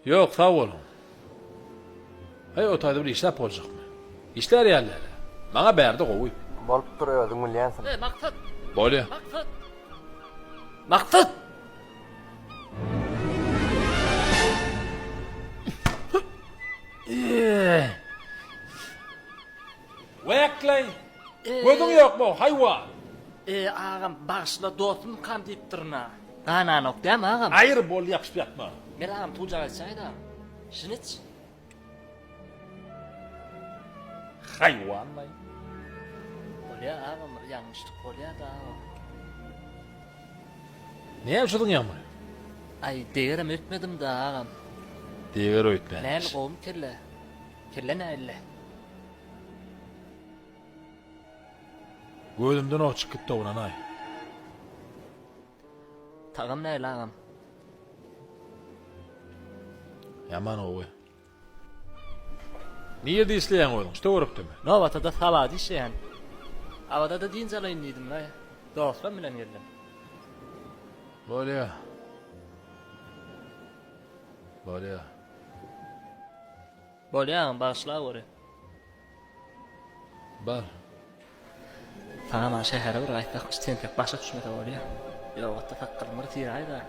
Ýok, sag boluň. Heý, o taýda bir işläp boljakmy? Işlär ýaly-dälä. Maňa bärde gowy. Bolupdyr, özüň bilýänsiň. Heý, Maksat! Bolýa. Maksat! Maksat! Wekleý! Gözüň ýokmy, haýwan? E, agam, bagyşla, dostum kam diýipdirin-a. Gananok dämi, agam? Aýyr, boldy, ýapyşyp ýatma. Men agam tujaga içäýin-ä. Şuny iç. Haýwanlaý. Bolýa, agam, bir ýalňyşlyk bolýa-da, agam. Näme üşüdiň ýagny? Aý, degerem öýtmedim-dä, agam. Deger öýtmänmiş. Näl, gowumy kelle? Kelle näille? Gözümden ok çykyp gitdi oglanaý. Tagam näli agam. Ýaman gowy. Nirde işleýäň özüň? Şte görüpdimi? Nowatada sawady işleýän. Awada-da dynç alaýyn diýdim we dostlam bilen geldim. Bolýa. Bolýa. Bolýar bagyşla göre. Bar. Saman şähere bir gaýtsak iş tentek başa düşmese bolýa. Ýogatda sakgalyň bir syraýda.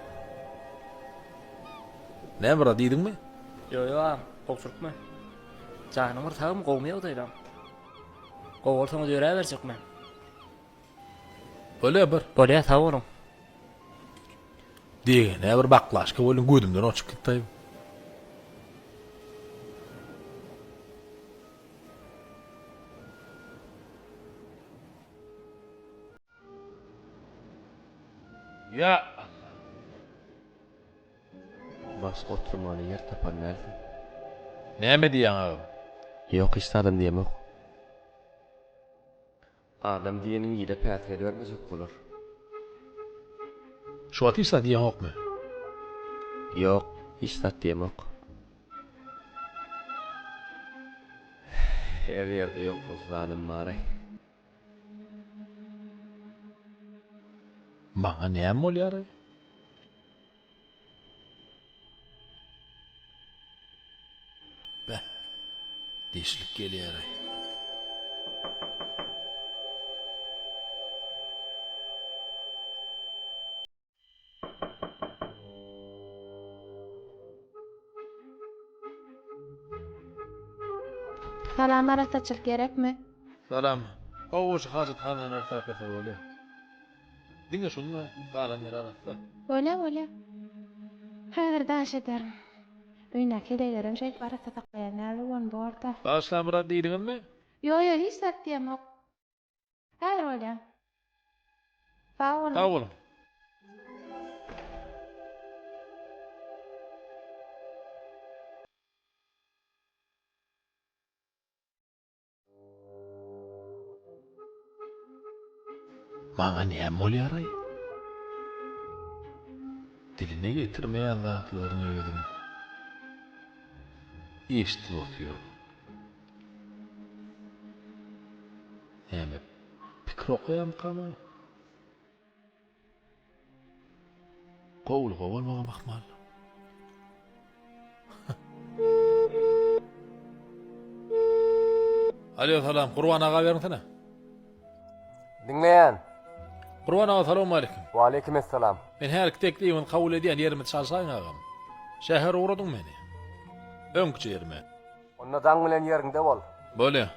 Näme bra diýdiňmi? Ýo ýo agam gowy türkmen. Janyň bir sagmy gowmy ýagdaýlaň. Gowy bolsaňyz ýöräberjekmen. Bolýa bir. Bolýa sag boluň. Degene bir baklaşka welin gözümden oçup gitdi. Ýa Allah. Bas oturmaly ýer tapan dälsiň. Näme diýýäň agam? Ýok hiç zadam diýemok. Adam diýeniň ile päsgel bermesek bolar. Şu wagt hiç zat iýeňokmy? Ýok, hiç zat diýemok. Her ýerde ýok bolsa zanym bar-aý. Maňa näme bolýar-aý? Beh, dişlik gelýär-aý. Salam, arassaçylyk gerekmi? Salam. Gowy goşgy hajathanada arassa aýtmasa bolýar. Diňe şuny we galanlary arassa. Bolýa bolýa. Häzir daş ederin. Öýündäki heleýlerem şeýdip arassa saklaýar näme bolan borda. Bagyşlamyrat diýdiňizmi? Ýok ýok hiç zat diýemok. Häzir bolýa. Sag boluň. Sag boluň. Maňa näme bolýaraý? Diline getirmeýän zatlaryny özüm eşidip otyryn. Näme, pikir okaýarmykam-aý? Gowulyga bolmagam ahmal. Alo salam Gurban aga bermesene. Diňleýän. Gurban aga salam aleyküm. Wa aleyküm esselam. Men her iki teklibiňizi kabul edýän ýerimi çalşaýyň agam. Şäher ugradyň meni. Öňküçe ýerime. Onda daň bilen ýeriňde bol. Bolýa.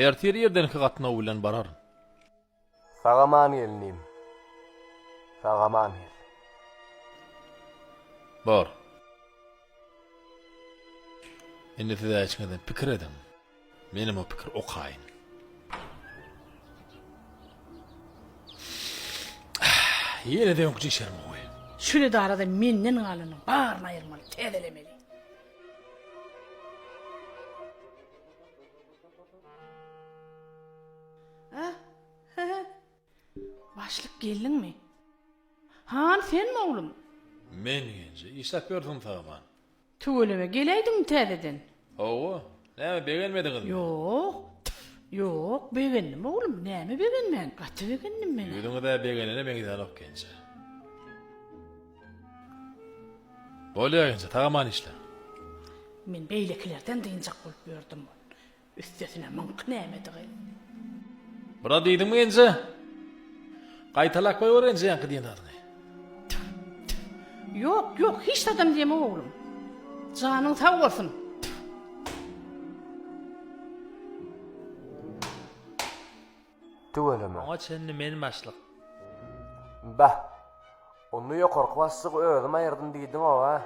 Ertir ýerden iki gatnaw bilen bararyn. Sagaman gelnim. Sagaman gel. Bor. Indi siz äçňeden pikir ediň. Menem o pikir okaýyn. Ýene de öňküje içerim goý. Şol edarada menden galanyň baryny aýyrmaly, täzelemeli. Başlyk geldiňmi? Han, senmi oglum? Men genje. Işläp ýörsüň Tagman. Tüweleme geläýdiňmi täzeden? Hawa. Näme, begenmediňizmi? Ýok. Tf, ýok, begendim oglum. Näme begenmän? Gaty begendim men-ä. Ýüzüňiz-ä begenene meňzänok genje. Bolýar enje, sag aman işle. Men beýlekilerden dynjak bolup ýördüm ol üstesine myňky nämedigi. Biraz diýdiňmi enje? Gaýtalap goýber enje ýaňky diýen zadyňy. Tüf, tüf. Ýok, ýok, hiç zadam diýemok oglum. Janyň sag bolsun. Tüweleme. Oňa çenli men başlyk. Bäh. Onda ýokarky başlygy özüm aýyrdym diýdiňow-a?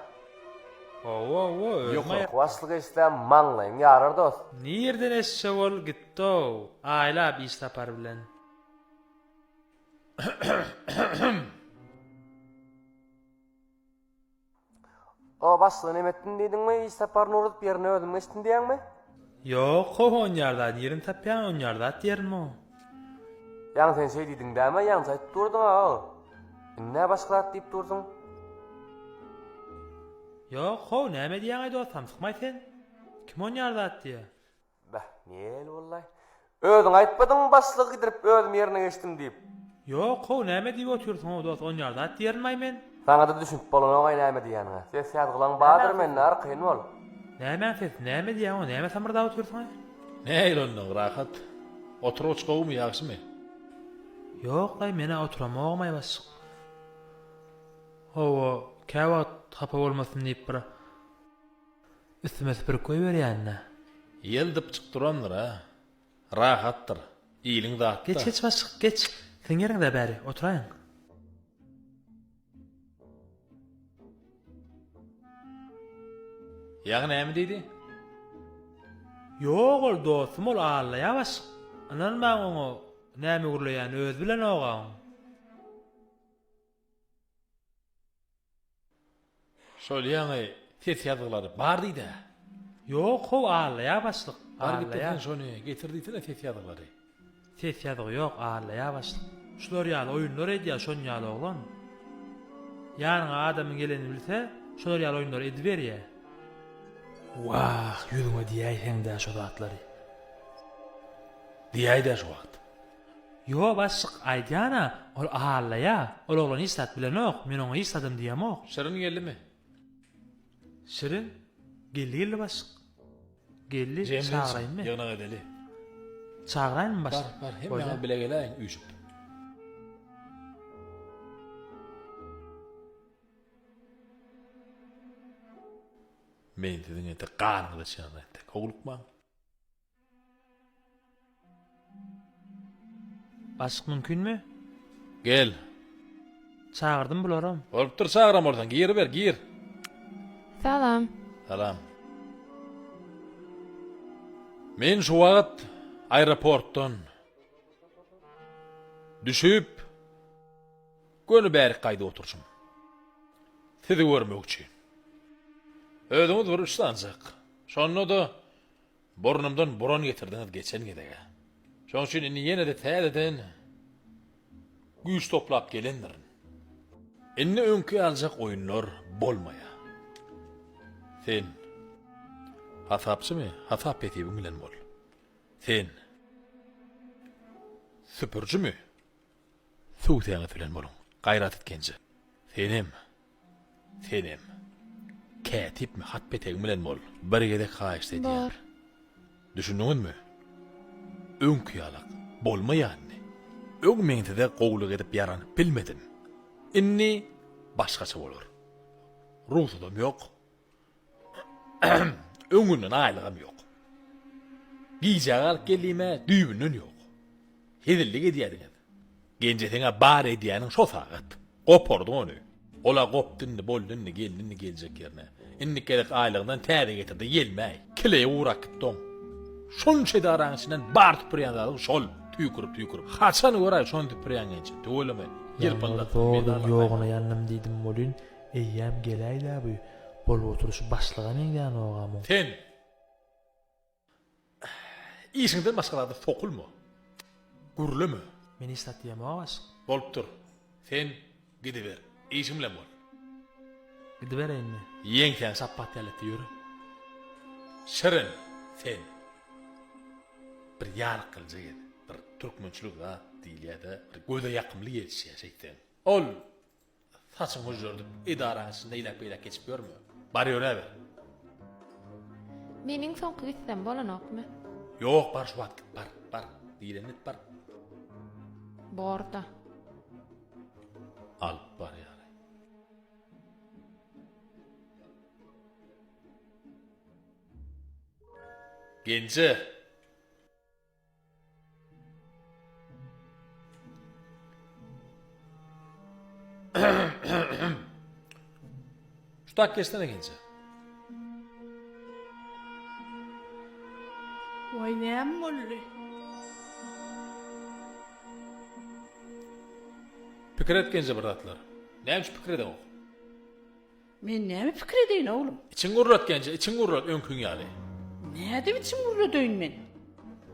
Hawa-hawa, özüm aýyrdym. Ýokarky başlygy eşitse, maňlaýyň ýarar dost. Nireden eşitjek ol, gitdi-ow, aýlap iş sapary bilen. O başlygy neme etdim diýdiňmi hiç saparyny urup ýerine özüm geçdim diýýäňmi? Ýok ho ho onýar zat ýerini tapýan onýar zat ýerini o. Ýaňy sen şeý diýdiň däme ýaňy aýdyp durdyň a o. Indi nä başga zat diýip durdyň? Ýok ho näme diýýäňaý dos samsykmaý sen? Kim onýar zat diýýä? Bäh, nel bollaý. Özüň aýtmadyňmy başlygy gidirip özüm ýerine geçdim diýip. Ýok how näme diýip otyrsyňow dos onýar zat diýerinmaý men. Saňada düşünip bolanogaý näme diýýäniňe. Ses ýazgylaň bardyr mende arkaýyn bol. Nämäň sesi näme diýýäňow näme samyrdap otyrsyňa. Neil onnoň rahat. Oturgyç gowumy ýagşymy. Ýoklaý menä oturamaogymaý başlyk. Hawa käwagt hapa bolmasyn diýip bir. Üstüme süpürip goýberýän-dä. Ýel dypjyk durandyr-a. Rahatdyr. Iliň zat-da. Geç, geç başlyk, geç. Siziň ýeriňiz-ä bäri, oturaýyň. Ýagy näme diýdi? Ýok ol, dostum, ol allaýar başlyk. Ynanmaň oňa, näme gürleýäni özi bilen-oga oň. Şol ýaňy ses ýazgylary bar diýdä. Ýok how allaýa başlyk. Bar getirsen şony getir diýsene ses ýazgylary. Ses ýazgy ýok allaýa başlyk. Şular ýaly oýunlar edýä şon ýaly oglan. Ýanyňa adamyň gelenini bilse şular ýaly oýunlary ediberýä. Wah ýüzüňe diýäýseňdä şo zatlary. Diýäýdä şu wagt. Ýo başlyk aýdýana ol ahallaýa ol oglan hiç zat bilenok men oňa hiç zadam diýemok. Şirin geldimi? Şirin geldi geldi başlyk. Geldi çagyraýynmy? Ýygnak edeli. Çagyraýynmy başlyk? Bar bar hemmäňiz bile geläýiň üýşüp. Men siziň entek ganyňyzy içýän entek howlukmaň. Aşyk mümkinmi? Gel. Çagyrdym bularam. Bolupdyr çagyran bolsaň giriber gir. Salam. Salam. Men şu wagt aeroportdan düşüp göni bärik gaýdyp oturjym. Sizi görmek üçin. Özüňiz bir üçsanjak. Şonda-da Burnumdan buran getirdiňiz geçen gezegä. Şoň üçin indi ýene-de täzeden güýç toplap gelendirin. Indi öňki ýaljak oýunlar bolmaýar. Sen. Hasapçymy? Hasap hesibiň bilen bol. Sen. Süpürjimi? Tüwsäňiz bilen boluň, Gaýrat Itgenje! Senem! Senem! Kätipmi, hat petegiň bilen bol, bir gezek haýyşt edýän! Bar! Düşündiňizmi? Öňki ýalak, bolmaýandy. Öň men size gowulyk edip ýaranyp bilmedim. Indi başgaça bolar. Rugsudam ýok. Öňünden aýlygam ýok. Gijä galyp geldim-ä, düýbünden ýok. Hezillik edýädiňiz. Genje seň-ä bar edýäniň şo sagat. Gopardyň ony. Ol-a gopdy indi, boldy indi, geldi indi geljek ýerine. Indiki gezek aýlygyndan täze getirdi, gelmäý. Kileýe ugrap gitdi oň. Şunça edaraň içinden bar süpürýän zadyň şol, tüýkürip-tüýkürip. Haçan göräý şony süpürýän Genje? Tüweleme, ýylpyldasyň, meýdanlykdaýsaň. Ýaňy-da toduň ýogyna ýandym diýdim welin, Eýýäm geläýdä bu bolup oturyş başlyga meňzänogam muň. Sen işiňden başga zada sokulma. Gürleme. Men iş satýamok aşyk. Bolupdyr. Sen gidiber. Işiň bilen bol. Gidibereýinmi? Ýeňsäň şapbat ýalyetdi ýör. Şirin, sen bir ýaryklyja gez. Bir türkmençilik zat diýilýä-de, bir göze ýakymly gelişýä şeýtseň. Ol Saçyňy hüžžerdip, edaraň içinde eýläk-beýläk geçip ýörme. Bar ýöräber. Meniň soňky gitsem bolanokmy? Ýok, bar şu wagt git, bar, bar. Diýleni git, bar. Bor-da. Alyp barýar. Genje! Şu tak geçsene gence. Vay näm boldy? Pikir et gence bir zatlar. Näme şu pikir edemok? Men näme pikir edeýin, oglum? Içiňi gurrat, Genje, içiňi gurrat, öňkiň ýaly. Nädip içimi gurradeýin men?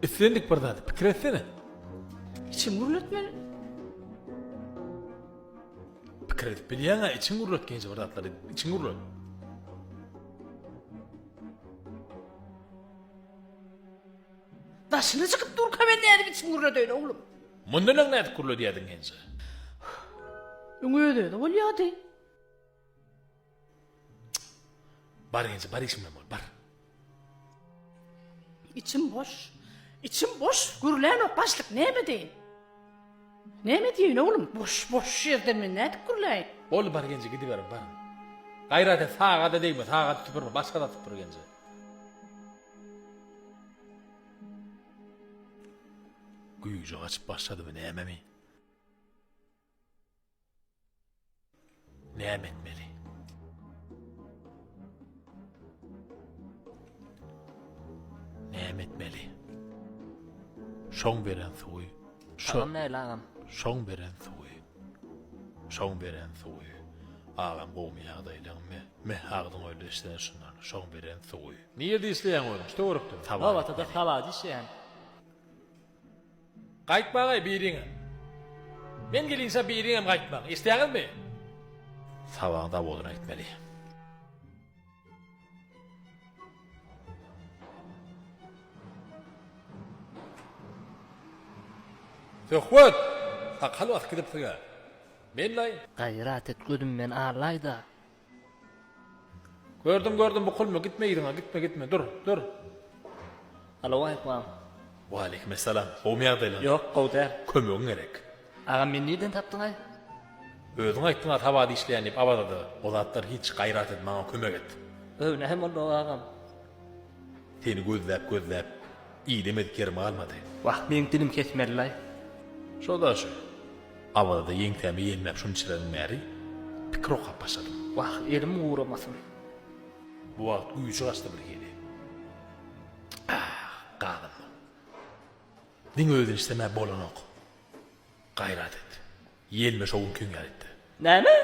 Islendik bir zady pikir etsene. Içimi gurratmaly. Pikir edip bilýäň-ä, içiňi gurrat, Genje, bir zatlar edip, içiňi gurrat. Daşyna çykyp durka men nädip içimi gurradeýin, oglum? Mundan öň nädip gurradýardyň, Genje? Öň öz-özi bolýardy. Bar enje bar işim bilen bol bar. İçim boş. İçim boş. Gürlän ok başlyk näme deyin? Näme deyin oglum? Boş boş ýerden men nädip gürläýin? Bol bar enje gidiber bar. Gaýrat et saga da degme saga da tüpürme başga da tüpür enje. Güýji açyp başladymy näme mi? Näme etmeli? Näme etmeli? Şoň beren suwy. Şoň näle agam? Şoň beren suwy. Şoň beren suwy. Agam gowmy ýagdaýlaň me? Me agdyň öýle işleýän şundan. Şoň beren suwy. Nirde işleýäň özüň? Şu töwerekde. Nowatada Sabada işleýän. Gaýtmaň-aý biriňem. Men gelinçä biriňem gaýtmaň. Eşidýäňizmi? Sabaň zawodyna gitmeli. Söhbet! Sakgal basyp gidipsiň-ä. Men-laý. Gaýrat et gözümden alaý-da. Gördüm gördüm bukulma gitme yzyňa gitme gitme dur dur. Alo Aýkmam. Waleýkim essalam gowmy ýagdaýlaň. Ýok gowy däl. Kömegiň gerek. Agam meni nirden tapdyňaý. Özüň aýtdyňa tabada işleýän diýip Awazada o zatlar hiç gaýrat et maňa kömek et. Öwnehem onda agam. Seni gözläp-gözläp, ile mezkerim galmady. Wah, meň dilim kesmeli-laý. Şo-da şo. Awaza-da ýeňsäme ýelmäp şunçadan bäri pikir okap başladym. Wah, elim guramasyn. Bu wagt güýji gaçdy birhili. Ah, galyndyň. Diňe özün işlemäp bolanok. Gaýrat et. Ýelme şo gün kiň ýaýtdy. Näme?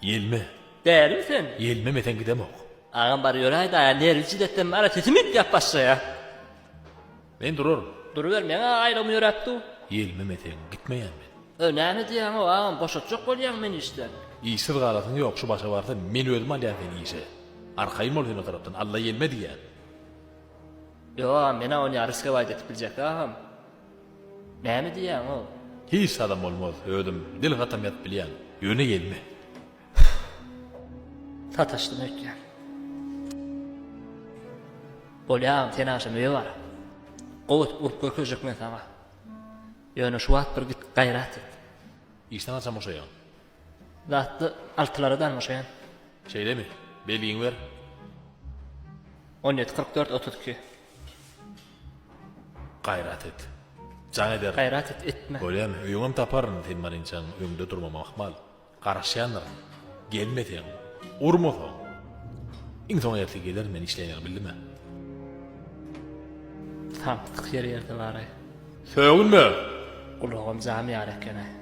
Ýelme. Dälimi sen? Ýelmemeseň gidemok. Agam bar ýöräýdä-ä nerwi jidetden bar-a sesim üýtgäp başlaýa. Men duraryn. Duruber meň-ä aýrygym ýöräp dur. Ýelmemeseň gitmeýän men. Öý näme diýýäňow agam boşatjak bolýaňmy meni işden? Işsiz galasyň ýok şu başa barsa men özüm alýan seni işe. Arkaýyn bol sen o tarapdan Alla ýelme diýýän. Ýok agam men-ä ony ýa riskowaýda etip biljek agam. Näme diýýäňow? Hiç zadam bolmaz, özüm dil gatam ýazyp bilýän. Ýöne gelme. Sataşdym öýtýän. Bolýar agam, sen agşam öýe bar. Gowy edip urup görkezjek men saňa. Ýöne şu wagt bir git gaýrat et. Işden haçan boşaýaň? Zatly altylara dan boşaýan. Şeýlemi? Belgiňi ber. On ýedi, kyrk dört, otuz iki. Gaýrat et. Jaň ederin. Gaýrat et, etme. Görýäň, öýüňem taparyn, sen malinçaň öňde durmama ahmal. Garaşýandyryn. Gelmeseň, urmasaň. Iň soň ertir gelerin men işleýäni bildimä. Samsyk ýer ýerde bar-aý. Sögünme! Gulagam jam ýar eken-aý.